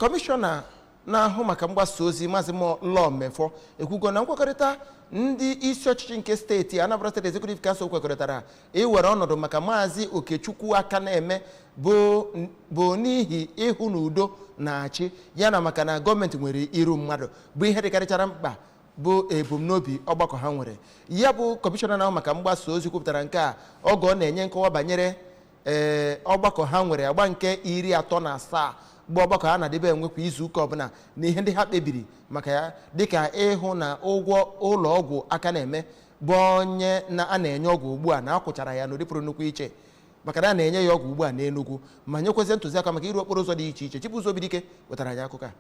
kọmishọna na-ahụ maka mgbasa ozi Maazị Law Mefor ekwugo na nkwekọrịta ndị isi ọchịchị nke steeti Anambra State Executive Council kwekọrịtara iwere ọnọdụ maka maazị Okechukwu Akaneme bụ n'ihi ịhụ na udo na-achị ya na maka na gọọmenti nwere iru mmadụ bụ ihe dịkarịchara mkpa bụ ebumnobi ọgbakọ ha nwere ya bụ kọmishọna na-ahụ maka mgbasa ozi kwupụtara nke a oge ọ na-enye nkọwa banyere ee ọgbakọ ha nwere agba nke iri atọ na asaa bụ ọgbakọ ha na-adịbe enwe kwa izu ụka ọbụla na ihe ndị ha kpebiri maka ya dịka ịhụ na ụgwọ ụlọ ọgwụ Akaneme bụ onye na a na-enye ọgwụ ugbu a na a kwụchara ya n'ụdị pụrụ nnukwu iche maka na a na-enye ya ọgwụ ugbu a n'Enugu ma nyekwazie ntụziaka maka ịrụ okporo ụzọ dị iche iche Chibụzọ Obidike wetara anyị akụkọ a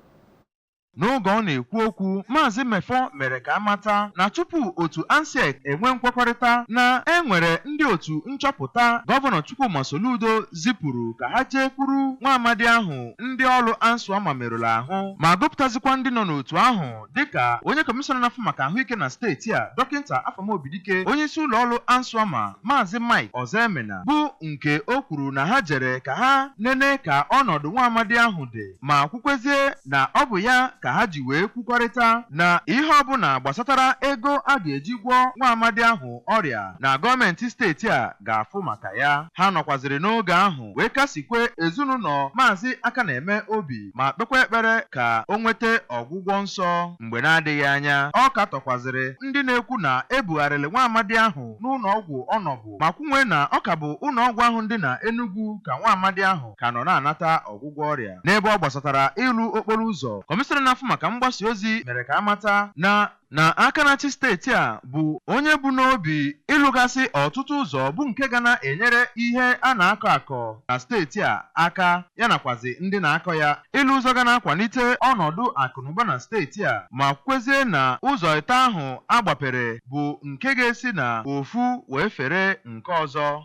N'oge ọ na-ekwu okwu, Maazị Mefor mere ka a mata na tupu otu ANSEC enwe nkwekọrịta na e nwere ndị otu nchọpụta Gọvanọ Chukwuma Soludo zipụrụ ka ha jekwuru nwa amadi ahụ ndị ọlụ ANSWAMA merụrụ ahụ ma gụpụtazikwa ndị nọ n'otu ahụ dịka onye kọmishọna na-afụ maka ahụike na steeti a Dọkịta Afam Obidike onyeisi ụlọọlụ ANSWAMA Maazị Mike Ozoemena bụ nke o kwuru na ha jere ka ha nene ka ọnọdụ nwa amadi ahụ dị ma kwukwezie na ọ bụ ya ka ha ji wee kwukọrịta na ihe ọbụla gbasatara ego a ga-eji gwọọ nwa amadi ahụ ọrịa na gọọmenti steeti a ga-afụ maka ya ha nọkwaziri n'oge ahụ wee kasikwe ezinụlọ Maazị Akaneme obi ma kpekwa ekpere ka o nweta ọgwụgwọ nsọ mgbe na-adịghị anya ọ katọkwazịrị ndị na-ekwu na ebugharịrị nwa amadi ahụ n'ụlọ ọgwụ ọ nọbu ma kwunwe na ọ ka bụ ụlọọgwụ ahụ dị na Enugwu ka nwa amadi ahụ ka nọ na-anata ọgwụgwọ ọrịa. N'ebe ọ gbasatara ịlụ okporo ụzọ, kọmishọna na-afụ maka mgbasa ozi mere ka a mata na na aka na-achị steeti a bụ onye bu n'obi ịlụgasị ọtụtụ ụzọ bụ nke ga na-enyere ihe a na-akọ akọ na steeti a aka. ya nakwazị ndị na-akọ ya. Ịlụ ụzọ ga na-akwalite ọnọdụ akụnụba na steeti a ma kwukwezie na ụzọ ịtọ ahụ a gbapere bụ nke ga-esi na ofu wee fere nke ọzọ.